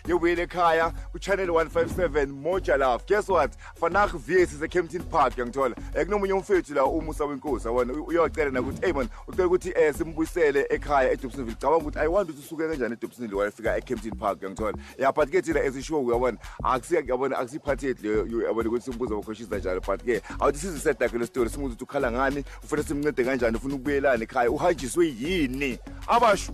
ngiyobuyela ekhaya kuchannel 157 moja love guess what fanah vs sekempton park uyangithola um kunomunye umfethu la umusa wenkosi awona uyocela nakuthi eyi mona ucela ukuthi um simbuyisele ekhaya edobsonville cabanga ukuthi i want ukuthi usuke kanjani edobsonville wayefika ekempton park uyangithola ya but ke thina ezishow uyabona akusiyabona akusiyiphathethi leyo yabona ukuthi simbuza bakhoshiza njalo but ke awuthi sizisedakhe le story simuza ukuthi ukhala ngani ufuna simncede kanjani ufuna ukubuyelana ekhaya uhanjiswe yini abasho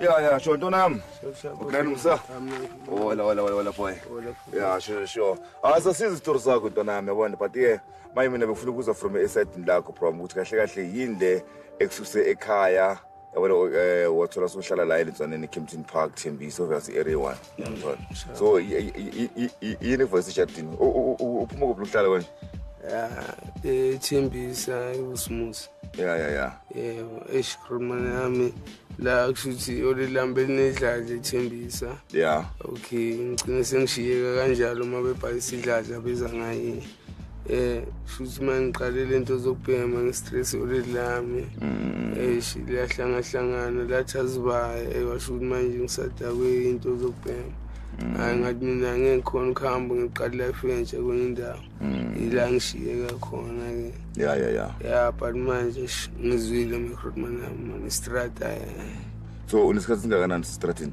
Yeah, yeah, sure. Don't um. Uklani msa. Hola, hola, hola, hola boy. Yeah, sure, sure. Asa sizi story zakho ntonami yabona but yeah, maye mina befuna ukuza from eside lakho from ukuthi kahle kahle yini le ekususe ekhaya yabona eh wathola sohlala la elitswaneni Kempton Park Thembisa obvious area 1 ngiyamthola so yini voice chatini uphuma kuphi uhlala konje ya eh Thembisa uSmusi ya ya ya eh eshikhuluma nami la kushuthi olilambe linedladla ethembisa ya okay ngicine sengishiyeka kanjalo uma bebhayisa idladla beza ngaye eh futhi mangiqalele into zokubhema ngestress already lami mm. eh liyahlanga hlangana lathazibaya ewasho eh, ukuthi manje ngisadakwe into zokubhema mm. hayi ngathi mina ngekhona ukuhamba ngiqala life entsha kwenye indawo mm. ila ngishiye kakhona ke ya ya ya ya but manje ngizwile microdman yami man istrata eh. so unesikhathi singakanani sestratini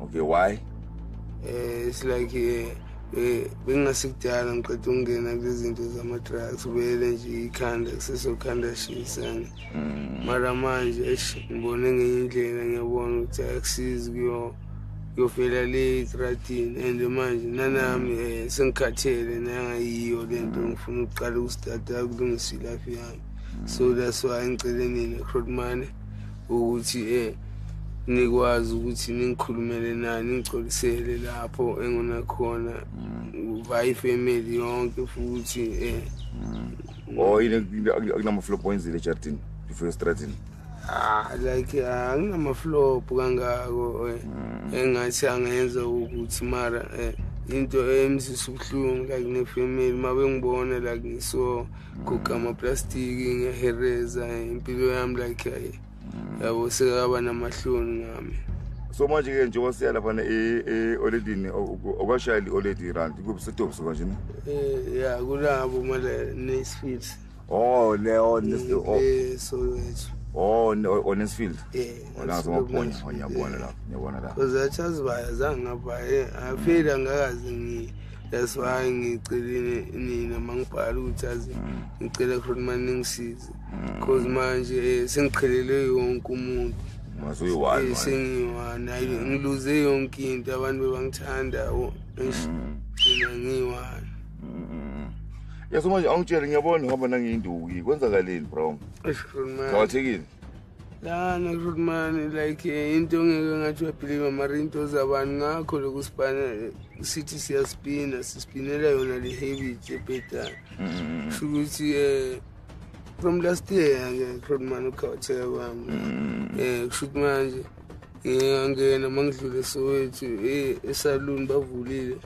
okay why eh it's like eh, eh bengasikudala ngiqeda ukungena kulezinto zama-drugs vele nje ikhanda kusesokhanda shisana mm. mara manje esh ngibone ngenye indlela ngiyabona ukuthi akusizi kuyo yofela le etratini and manje nanami um eh, sengikhathele nangayiyo le nto ngifuna ukuqala ukusitata kulungisa ilafi yami so that's why ngicele nina crotmane ukuthi eh nikwazi ukuthi ningikhulumele naye ningicolisele lapho engona khona uvaye mm. ifamily yonke futhi eh mm. oh yini akunamaflop oyenzile ejardini before estradini ah like anginamaflop kangako eh. mm. engathi angenza ukuthi mara eh into emsisa ubuhlungu like nefamily mabengibona like so guqa amaplastiki ngiyahereza impilo yami like ayi yabo sekaba namahloni ngami so manje ke njengoba siya lapha e-oledini okwashaya i-oledi rand kuphi setobs kanje ne eh, ya kulabo male nesfield oh leo so lethu Oh, on his field. Yeah. Ona zoma point, ona bona la, ona bona la. Uzachazi baya zanga baya. Afira ngakazi ngi that's why ngicelile nina mangibhala ukuthi azi mm. ngicela khona manje ningisize mm. cause manje eh, sengiqhelele yonke umuntu masuyiwani eh, sengiyiwani hayi mm. ngiluze yonke into abantu bebangithanda mina ngiyiwani yaso manje awungitshele ngiyabona ngoba nangiyinduki kwenzakaleni bro ngawatshekile lana rudmani like eh, into ngeke ngathi uyabhiliva mara into zabani ngakho loku sibana sithi siyaspina sispinela yona le habit ebhedana mm-hmm. sho ukuthi um eh, from last year-ke rudmani ukhawatheka kwami um mm-hmm. eh, kusho ukuthi manje ngiyangena uma ngidlule sowethu esaluni bavulile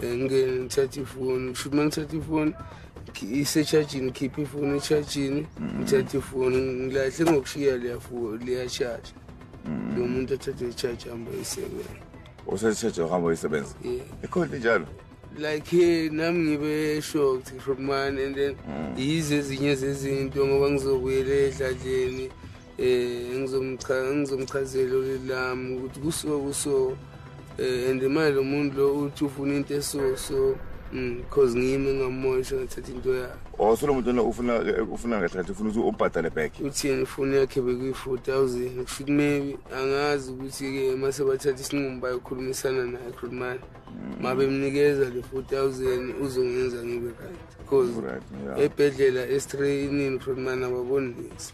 ngingene ngithathe ifoni kusho ukuthi uma ngithathe ifoni isechajini khipha ifoni echajini mm. ngithathe ifoni ngilahle ngokushiya liyashasha mm. lo muntu athathe ichaji hamba isebenza usechaji ohamba isebenza ikhona njalo like nami ngibe shocked from mine and then mm. yizo ezinye zezinto ngoba ngizobuyela edladleni um ngizomchazela ulili lami ukuthi kusuke kuso um eh, and imali lo muntu lo uthi ufuna into eso so Mm, cause ngiyimi engamosha ngathatha into yakhe oh so lo muntu lona ufuna ufuna ngathatha ufuna ukuthi umbhadale back uthini ifoni yakhe bekuyi-four thousand kusho ukuthi maybe angazi ukuthi-ke uma sebathatha isinqumo bayokhulumisana naye khulumani mm. ma bemnikeza le four thousand uzongenza ngibe right cause ebhedlela estreyinini khulumani ababoni lisi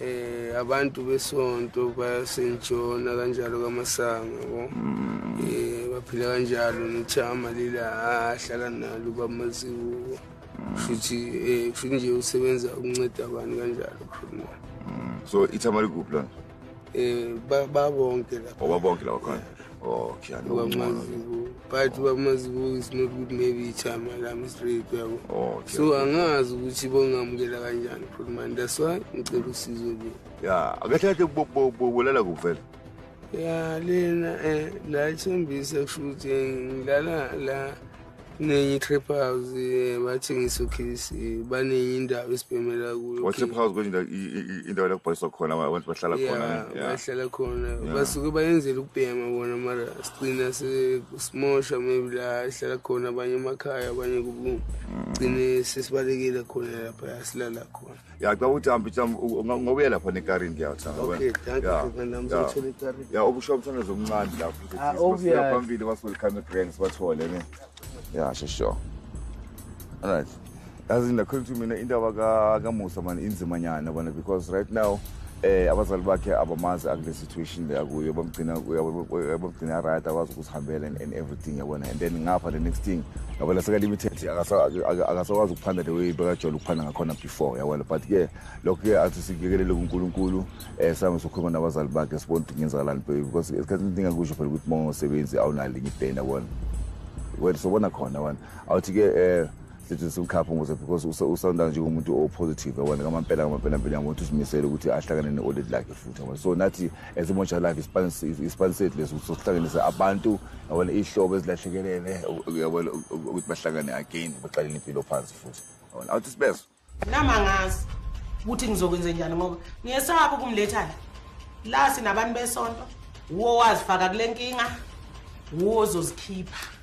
eh abantu besonto bayasenjona kanjalo kamasanga bo mm. eh baphila kanjalo nithama lila ahlala nalo bamaziwo mm. futhi eh futhi nje usebenza ukunceda abantu kanjalo khona mm. so ithama likuphi lona eh babonke lapha oh, babonke lapha khona okay anokuncono but bamazibuka is not good maybe ichama lami straight yabo okay so angazi ukuthi bongamukela kanjani futhi man that's why ngicela usizo nje ya akathathe kubulala kuvela ya lena eh la ithembisa kusho ukuthi ngilala la Nenye i-trip house eh, bathengisa ukhisi eh, baningi indawo esibhemela kuyo WhatsApp house kwenye indawo- i- i- i- indawo la kubhaliswa khona aba- abantu bahlala khona Yeah, ne? Yeah. bahlala khona Yeah. basuke bayenzela ukubhema bona mara sigcina se- simosha maybe la hlala khona abanye emakhaya abanye kubugcine sesibalekile khona lapha silala khona ya xa uthi hambi xa ngokuye lapha nekarini ndiyawuthanda okay thank you mfana msithole ekarini ya obusho mfana zomncane lapha ah obvious phambili was welcome to grand sibathole ne ya sure sure all right yazi ndakholwa ukuthi mina indaba ka kamusa mani inzima nyana bona because right now eh abazali bakhe abamazi akule situation le akuyo bamgcina bamgcina right akwazi ukusihambela and everything yabona and then ngapha the next thing yabona seka limited akasakwazi ukuphanda the way bekajole ukuphanda ngakhona before yabona but ke lokho ke athi sikikelele kuNkulunkulu eh sami sokhuluma nabazali bakhe sibona ukuthi ngenzakalani because esikhathini esintinga kusho phela ukuthi uma ungasebenzi awunalinye ibhenda yabona wena sobona khona wena awuthi ke eh sithi simkhaphe ngoze because usawunda nje umuntu opositive yabona ngamampela ngamampela mpela yabona ukuthi uzimisele ukuthi ahlangane ne-audit lakhe futhi yabona so nathi as imontsha lakhe isipani sethu lesi ukuthi sokuhlanganisa abantu yabona iy'hlobo ezilahlekelele yabona ukuthi bahlangane again baqalele impilo phansi futhi yabona awuthi sibezo nami angazi ukuthi ngizokwenze njani ngoba ngiyesaba ukumletha la la sinabantu besonto wuwo wazifaka kule nkinga wuwo ozozikhipha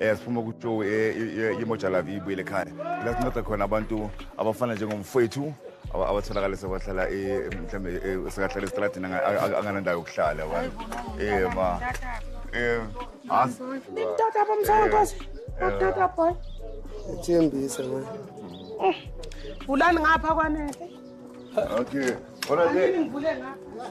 eh siphuma ku Joe eh imoja la vibu ile khaya la sinceda khona abantu abafana njengomfowethu abatholakala sebahlala eh mhlambe eh, sekahlala estradini anganandawo yokuhlala wani eh ma eh as nitata bamsana kwasi nitata boy ethembise ma eh, vulani ngapha kwanele okay ora ke ngivule ngapha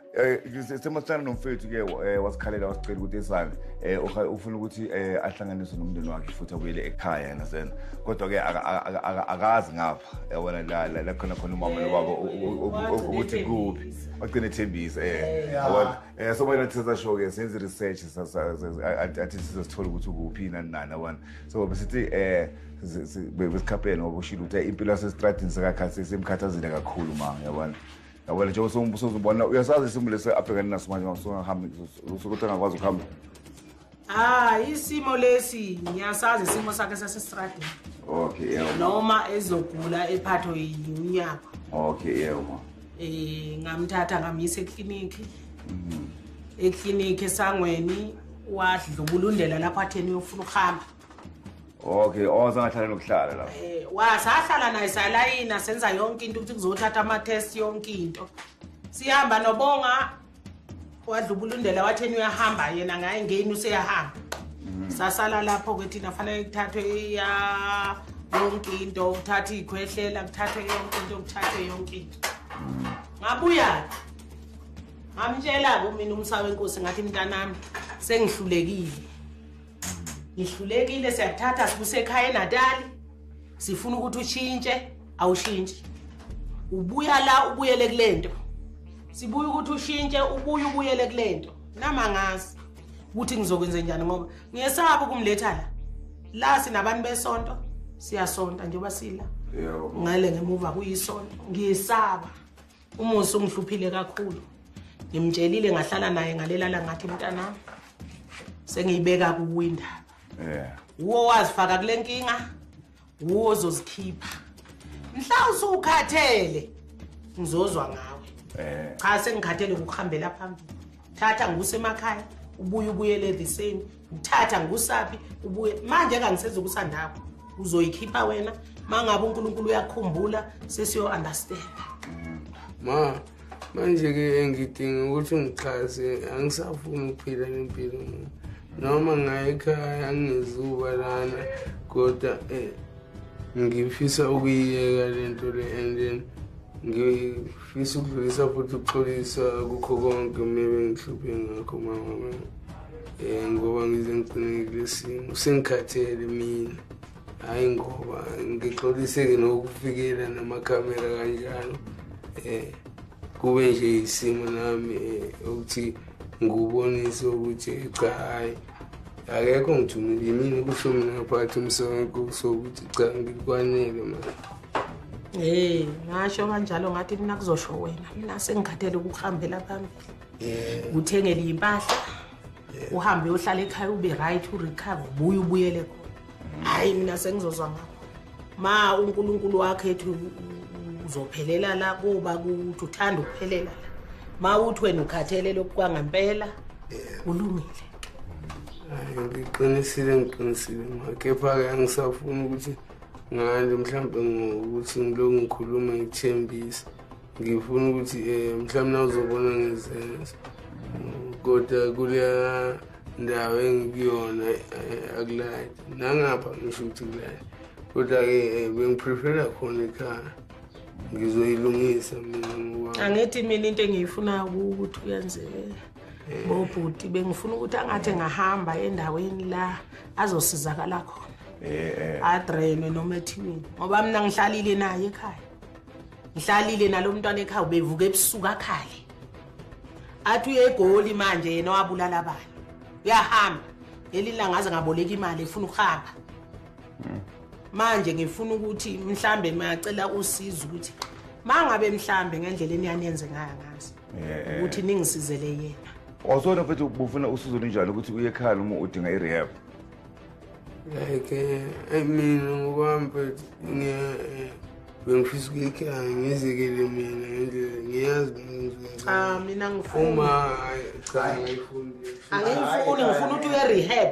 um isimo sifana nomfethu ke um wasikhalela wasicela ukuthi esane um ufuna ukuthi um ahlanganiswe nomndeni wakhe futhi abuyele ekhaya yena zena kodwa-ke akazi ngapha yabona la khona khona umama nobaba ukuthi kuphi wagcina ethembisa um um so bona sisasho-ke senze i-research athi sizosithola ukuthi ukuphi nani nani abona so besithi um besikhaphele ngoba ushile ukuthi impilo yasesitradini sekakhathi semkhathazile kakhulu ma yabona yawena njengoba sewusuzubona uyasazi isimo lesi abhekane naso manje masuangahambi sokuthi angakwazi ukuhamba hayi ah, isimo lesi ngiyasazi isimo sakhe sasesitradini okay yebo noma ezogula ephatho yinyama okay yebo ma eh ngamthatha ngamyisa eklinikhi mhm. eklinikhi esangweni wadlubulundela lapho atheni uyofuna ukuhamba okay oza oh, ngahlale nokuhlala la eh wasahlala naye salayina senza yonke into ukuthi kuzothatha ama test yonke into sihamba nobonga wadlubulundela watheni uyahamba yena ngaye ngeni useyahamba mhm. sasala lapho ke thina fanele kuthathwe iya yonke into kuthatha ikhwehlela kuthathwe yonke into kuthathwe yonke into mhm. ngabuya ngamtshela kumina umsawe inkosi ngathi mntanami sengihlulekile ngihlulekile siyakuthatha sikusekhaya enatali sifuna ukuthi ushintshe awushintshi ubuya la ubuyele kule nto sibuye ukuthi ushintshe ubuye ubuyele kule nto namangazi ukuthi ngizokwenze njani ngoba ngiyesaba ukumletha la la sinabantu besonto siyasonta njengoba sila ngale ngemuva kuyisonto ngiyesaba umusa ungihluphile kakhulu ngimtshelile ngahlala naye ngalelala ngathi mntanami sengiyibeka kuwe indaba yeah. wuwo owazifaka kule nkinga wuwo ozozikhipha mhla usukhathele ngizozwa ngawe yeah. cha sengikhathele ngokuhambela phambili thatha ngibuse emakhaya ubuye ubuyele the same uthatha ngusaphi ubuye manje kangisenza ukusandakho uzoyikhipha wena mangabe uNkulunkulu uyakhumbula sesiyo understand ma manje ke engidinga ukuthi ngixhase angisafuni ukuphila lempilo noma ngayikhaya ngizuba lana kodwa eh ngifisa ukuyiyeka lento le and then Ngifisa ukudlulisa futhi ukuxolisa kukho konke mina bengihluphe ngakho mama mina. Eh ngoba ngize ngigcine kulesimo sengikhathele mina. Hayi ngoba ngixoliseke nokufikela namakhamera kanjalo. Eh kube nje isimo nami eh, ukuthi ngubonise ukuthi cha hayi akekho ngithumile yimini kusho mina ngaphathi umsebenzi sokuthi cha ngikwanele manje Hey, ngasho kanjalo ngathi mina kuzosho wena. Mina sengikhathele ukuhambela phambili. Yeah. Uthengele impahla. Yeah. Uhambe uhlale ekhaya ube right u recover ubuye ubuyele khona. Mm. Hayi mina sengizozwa ngakho. Ma uNkulunkulu wakhe ethi uzophelela la kuba kuthi uthanda ukuphelela la. Ma uthi wena ukhathele lokwa ngempela. Yeah. Ulungile. Ngiqinisile ngiqinisile ma kepha ke angisafuni ukuthi ngani mhlawumbe ngokuthi ngilokhu ngikhuluma ngithembisa ngifuna ukuthi um eh, mhlawumbe nawuzobona ngizenza kodwa kuleya ndawo engikuyona eh, akulayi nangapha ngisho ukuthi kulayi kodwa-ke eh, bengiprefera khona ekhaya ngizoyilungisa mina angithi mina into engiyifunayo ukuthi uyenzeke ngobhuti bengifuna ukuthi angathi engahamba endaweni la azosizakala khona eh, eh. adrenwe noma ethiweni ngoba mina ngihlalile naye ekhaya ngihlalile nalo mntwana ekhaya ubevuka ebusuku akhale athi uye egoli manje yena wabulala abantu uyahamba leli langa aze ngaboleka imali efuna ukuhamba hmm. manje ngifuna ukuthi mhlambe mayacela usizo ukuthi mangabe mhlambe ngendlela eniyanenze ngayo ngazi eh, eh. ukuthi ningisizele yena wazona futhi ubufuna usizo linjalo ukuthi uye ekhaya uma udinga i-rehab like eh, mina ngokwami but eh, bengifisa ukuyikhala ngizekele mina ngendlela ngiyazi ah, mina ngifuna cha ngiyifuni angiyifuni ngifuna ukuthi uye rehab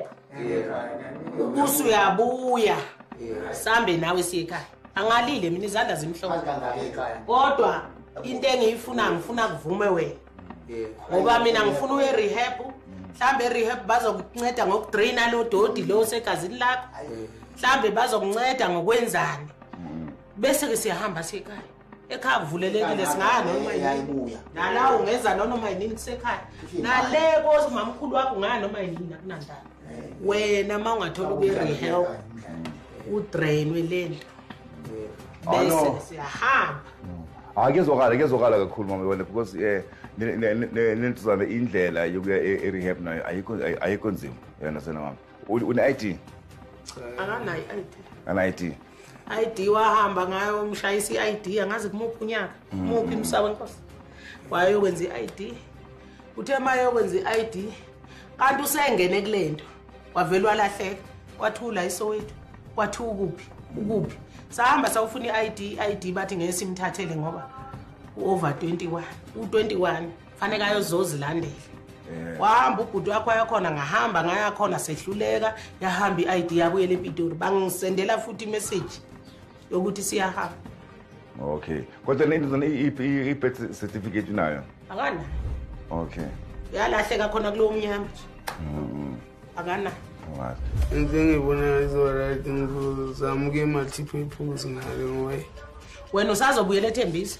ubusi uyabuya sambe nawe siyekhaya angalile mina izandla zimhlophe kodwa into engiyifuna ngifuna kuvume wena ngoba mina ngifuna uye rehab mhlambe erehab bazokunceda ngokudraina lo dodi lo segazini lakho mhlambe bazokunceda ngokwenzani bese-ke siyahamba sekhaya ekhaya kuvulelekile singaya noma yini nala ungeza nonoma yinini kusekhaya nale komamkhulu wakho ungaya noma yinini akunandaba wena uma ungathola ukuyerehab udrainwe le nto bese siyahamba hayi ah, kuyezwakala kuyezwakala kakhulu mama yona because eh, um nentuzana indlela yokuya e, e-rehab nayo ayikho nzima yona sena mama une-i d akanayo i-i d ana-i d i d wahamba ngayo umshayisa i-i d angazi kumuphi unyaka mm. muphi msawe nkosi wayokwenza i-i d uthe uma yokwenza i-id kanti usengene kule nto wavele walahleka wathula isowethu wathi ukuphi ukuphi sahamba sawufuna i-id i-id bathi ngeke simthathele ngoba u-over 21 u-21 faneke ayozozilandela eh. wahamba ubhuti wakho ayakhona ngahamba ngayakhona sehluleka yahamba i-id yabuyela epitori bangisendela futhi imeseji yokuthi siyahamba okay kodwa le ndizana i-birth certificate unayo akanayo okay yalahleka khona kulowo mnyama nje mm-hmm. akanayo into engibonayo izoright ngizama ukuye multiple pools ngale ngoba wena usazobuyela ethembisa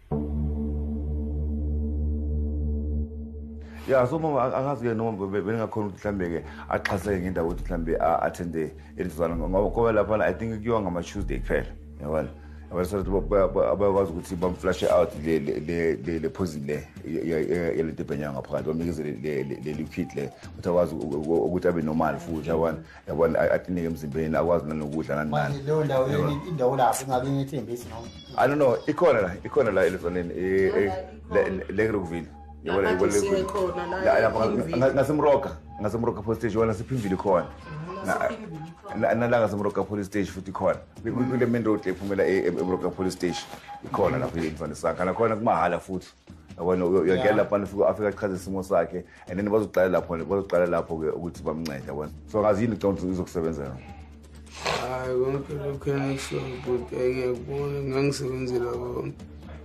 ya so mama angazi ke noma beningakhona ukuthi mhlawumbe-ke axhaseke ngendawo ukuthi mhlawumbe a-athende elizwana ngoba laphana i think kuyiwa ngama-tuesday kuphela yabona abasathi abayakwazi ukuthi bamflashe out le poison le yalento ebhenyanga ngaphakathi bamnikeze le liquid le ukuthi akwazi ukuthi abe normal futhi yabona yabona atinike emzimbeni akwazi nanokudla nani nani manje leyo ndawo yini indawo lapho ingabe ngethembisi noma i don't know ikhona la ikhona la elizoneni eh, eh, le ngirukuvile yabona yabona lapha ngasemroka ngasemroka police station wona siphimvile khona nalanga semroka police station futhi khona kule main road ephumela e, e, emroka police station ikhona lapho imfana sakhe nakhona kumahhala futhi yabona uyagela lapha afika achaze isimo sakhe and then bazoqala lapho bazoqala lapho ke ukuthi bamncede yabona so ngazi yini ngicabanga ukuthi izokusebenzela hayi konke lokhu engisho bhuti engiyakubona ngangisebenzela konke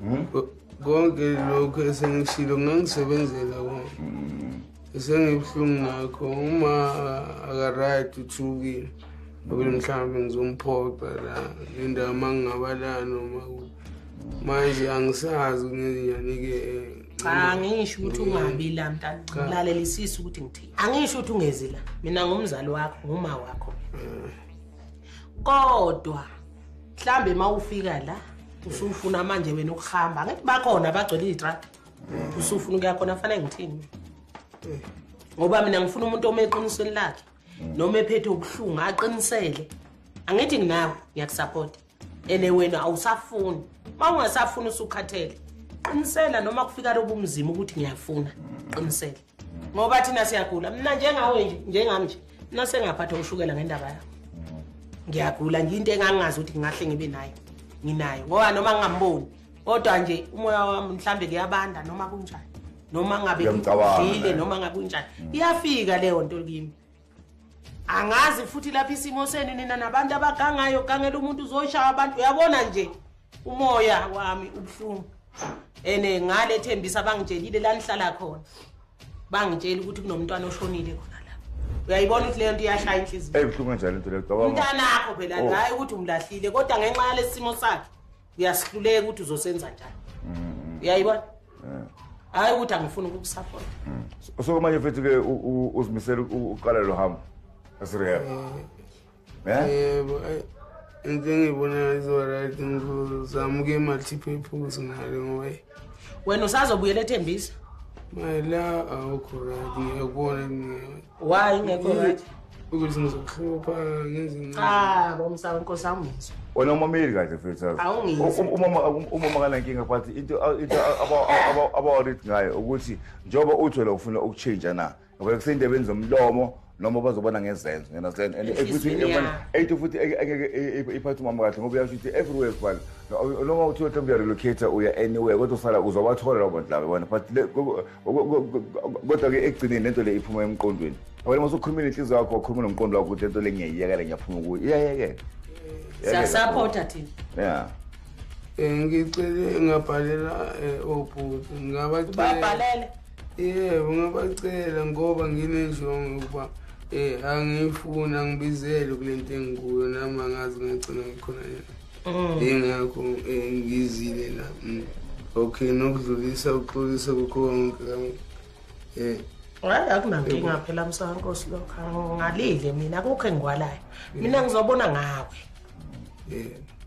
hmm? konke lokhu esengishilo ngangisebenzela konke hmm. esengibuhlungu ngakho uma akaright uthukile abele mhlawumbe ngizomphoqa la nendawo uma ngingaba la noma manje angisazi kungenyanike cha angisho ukuthi ungabi la mntana ngilalelisisa ukuthi ngithini angisho ukuthi ungezi la mina ngumzali wakho nguma wakho kodwa mhlambe uma ufika la usufuna manje wena ukuhamba angithi bakhona abagcwele iy'trak usufuna ukuya khona fanele ngithini ngoba mina ngifuna umuntu ome eqinisweni lakhe noma ephethe ubuhlungu aqinisele angithi nginawe ngiyakusaphotha ene wena awusafuni uma ungasafuni usukhathele qinisela noma kufika lobu mzima ukuthi ngiyafuna qinisela ngoba thina siyagula mina njengawe nje njengami nje mina sengaphatha ushukela ngendaba yakho ngiyagula nje into engangazi ukuthi ngingahle ngibe nayo nginayo ngoba noma ngingamboni kodwa nje umoya wami mhlambe kuyabanda noma kunjani noma ngabe ngidlile noma ngakunjani iyafika leyo nto kimi angazi futhi lapha isimo senu nina nabantu abagangayo gangela umuntu uzoshaya abantu uyabona nje umoya wami ubuhlungu and eh, ngale thembisa bangitshelile la nihlala khona bangitshela ukuthi kunomntwana oshonile khona la uyayibona ukuthi leyo nto iyashaya inhliziyo ebuhlungu kanjani into leyo mntanakho phela oh. hayi ukuthi umlahlile kodwa ngenxa yalesi simo sakhe uyasihluleka ukuthi uzosenza njani mm. uyayibona hayi ukuthi angifuni ukukusapota mm. so kumanje futhi ke uzimisela uqala lo hambo esirehab eh, eh? yebo eh, into engiyibona izoright ngizama ukuye multipurpose ngale ngoba wena usazobuyela ethembisa mayela awukho right ngiyakubona why ngekho right ukuthi ngizokuhlupha ngenzincabo ah, msawe nkosi awungizwa wena umameli kahle fethaumama kanankinga but into abawarid ngayo ukuthi njengoba uthwele ufuna ukutshintsha na ngoba kuseyindebeni zomlomo noma bazobona ngezenzo yona zen and futhi eight futhi engeke iphathe umama kahle ngoba uyasho ukuthi everywhere kubala noma uthi uyothi uyarelocate uya anywhere kodwa usala uzobathola labo bantu labo bona but kodwa-ke ekugcineni lento le iphuma emqondweni wena masukhulumile inhliziyo yakho wakhuluma nomqondo wakho ukuthi lento le ngiyayiyekela ngiyaphuma kuyo iyayekela siyasapota thina ya um ngicele ngabhalela eh, obhuti ngabacele yebo ngabacela ngoba nginenjongo yokuba um angiyifuni angibizele kule nto engikuyo nami angazi ngagcina ngikhona yena mm. yingakho um ngizile la mm. okay nokudlulisa uxolisa kukho konke um hayi akunankinga phela msawankosi lokho ngalile mina akukho engikwalayo mina ngizobona ngawe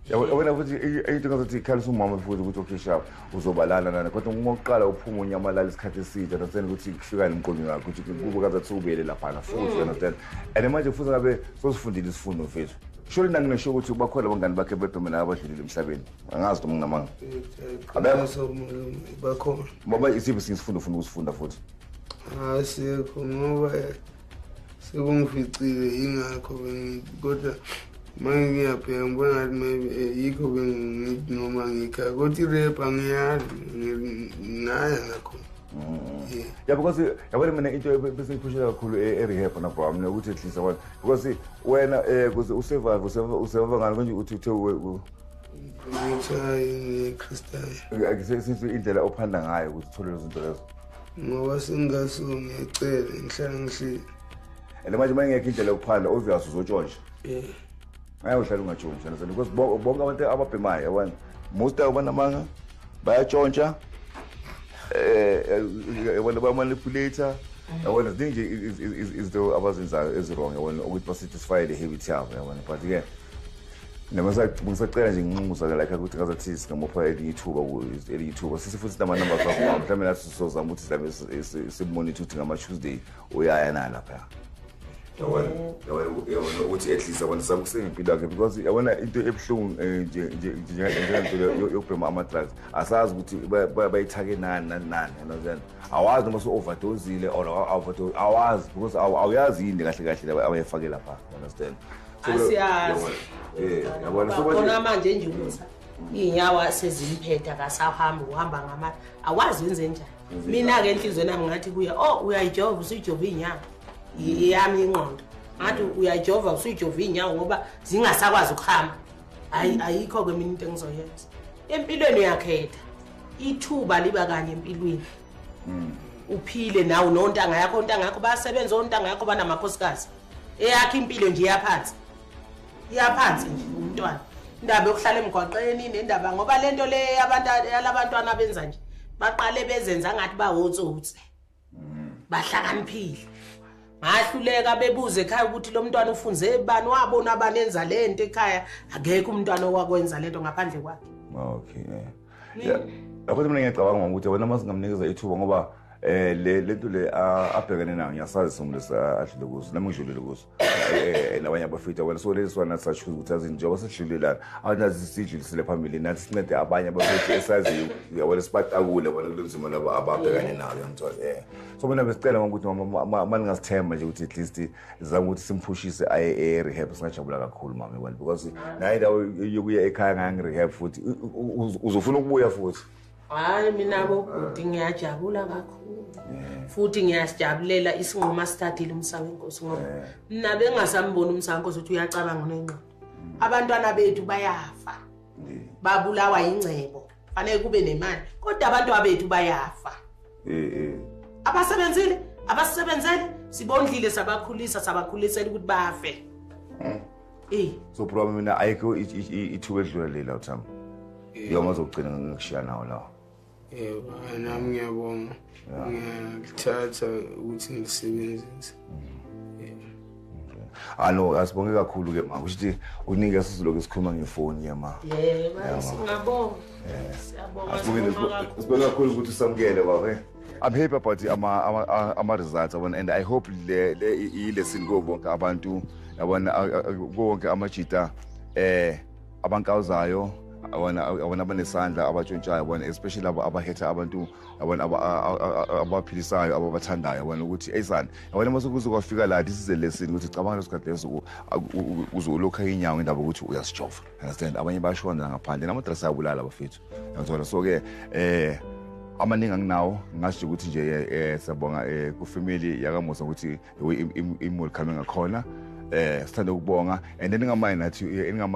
yabona futhi into ngazothi ikhalisa umama futhi ukuthi okay sharp uzobalana nani kodwa uma uqala uphuma unyamalala isikhathi eside understand ukuthi kufikani emqondweni wakho ukuthi kubo kazathi ubuyele laphana futhi understand and manje futhi ngabe sosifundile isifundo mfethu shole nanginesho ukuthi bakhona abangani bakhe bedome la abadlulile emhlabeni angazi noma nginamanga bakhona baba isiphi sinye isifundo ufuna ukusifunda futhi asikho ngoba sekungificile yingakho bengithi kodwa manje ngiyabheka ngibona ngathi maybe eh, yikho bengithi noma ngikhaya kodwa irep angiyazi ngaya ngakhona mm. ya because yabona mina into besengiphushela kakhulu e-, erehab na bro mina ukuthi ehlisa wena because wena um kuze usurvive usevava ngani konje uthi uthe ngithayi ngikhristayo indlela ophanda ngayo ukuthi uthole lezo zinto lezo ngoba sengathi ngiyacela ngihlala ngihleli and manje uma ingekho indlela yokuphandla obvious uzotshontsha eh ngeke uhlale ungatshontsha nazo because bonke abantu ababhemayo yabona most of banamanga bayatshontsha eh, eh yabona ba manipulator yabona ziningi izinto abazenzayo eziwrong yabona ukuthi basatisfy the habit yabo yabona but ke noma ngisacela nje nginxumuza-ke lakhe ukuthi ngazathi singamupha elinye ithuba elinye ithuba sise futhi namanamba akho mhlawumbe nathi sizozama ukuthi silabe simonitha ukuthi ngama-tuesday uyaya na lapha ukuthi at least abantu zama ukusenga impilo yakhe because yabona into ebuhlungu eh, njengento yokubhema ama-drugs asazi ukuthi bayithake nani nani nani yanazen awazi noma so-overdozile or awazi because awuyazi yini kahle kahle abayifake lapha understand asiyazi eh yabona so bona manje nje ukuthi inyawo sezimphetha kasahambi uhamba ngama awazi wenze njani mina ke inhliziyo nami ngathi kuya oh uyayijova usuyijova inyawo yami inqondo ngathi uyayijova usuyijova inyawo ngoba zingasakwazi ukuhamba hayi mm. ayikho ke mina into engizoyenza empilweni uyakhetha ithuba liba kanye empilweni mm. uphile nawe nontanga yakho ontanga yakho bayasebenza ontanga yakho banamakhosikazi eyakhe impilo nje iyaphansi iyaphansi nje umntwana indaba yokuhlala emgwaqeni nendaba ngoba le nto le abantu yalabantwana benza nje baqale bezenza ngathi bawotsotsi mm. bahlakaniphile ngahluleka bebuze ekhaya ukuthi lo mntwana ufunze bani wabona abani enza le nto ekhaya akekho umntwana owakwenza le nto ngaphandle kwakhe okay eh. Lapho mina ngiyacabanga ukuthi wena uma singamnikeza ithuba ngoba eh le lento le abhekene nayo ngiyasazi somlisi adlule kuzo nami ngidlulile kuzo eh, eh labanye abafita wena so lezi swana sashuza ukuthi azi njengoba sidlulelana awunazi sidlulisile phambili nathi sincede abanye abafita esaziyo uyabona sibatakule bona kulenzima laba ababhekane nayo ngithola eh so mina besicela ukuthi maningasithemba nje ukuthi at least zama ukuthi simphushise aye e-rehab singajabula kakhulu mama ekwani because naye ndawo yokuya ekhaya ngangi-rehab futhi uzofuna ukubuya futhi hayi mina bobhuti ngiyajabula kakhulu futhi ngiyasijabulela isinqumo asithathile umsaka wenkosi ngoba mna bengasamboni umsaka wenkosi ukuthi uyacabanga unengqondo mm. abantwana bethu bayafa babulawa yingcebo fanele kube nemali kodwa abantu abethu bayafa eh eh abasebenzile abasebenzele sibondlile sabakhulisa sabakhulisela ukuthi bafe eh eh so bro mina ayikho ithuba edlula lela uthami eh. yoma zokugcina ngikushiya nawo lawo eh nami ngiyabonga ngithatha ukuthi ngilisebenzise Alo ah, asibonge kakhulu ke ma. Kusho ukuthi unike sisilokhu sikhuluma ngefoni ke ma. Yebo, singabonga. Siyabonga. Asibonge sibonga kakhulu ukuthi usamukele baba. Eh. I'm happy about ama ama, ama results yabona and I hope le le i lesson go bonke abantu yabona konke amajita eh abankawuzayo abona abona abanesandla abatshontshayo bona especially labo abahetha abantu yabona abaphilisayo ababathandayo yabona ukuthi eyisani yabona uma sekuze kwafika la this is a lesson ukuthi cabanga leso sikhathi leso uze ulokha inyawo ngendaba ukuthi uyasijova understand abanye bashona ngaphandle namadrasi ayabulala bafethu yabona so-ke um eh, amaningi anginawo ngasho ukuthi nje eh, eh siyabonga eh kufamily yakamusa ukuthi imuli coming akhona eh sithanda ukubonga and eningamayi nathi eh, eningamayi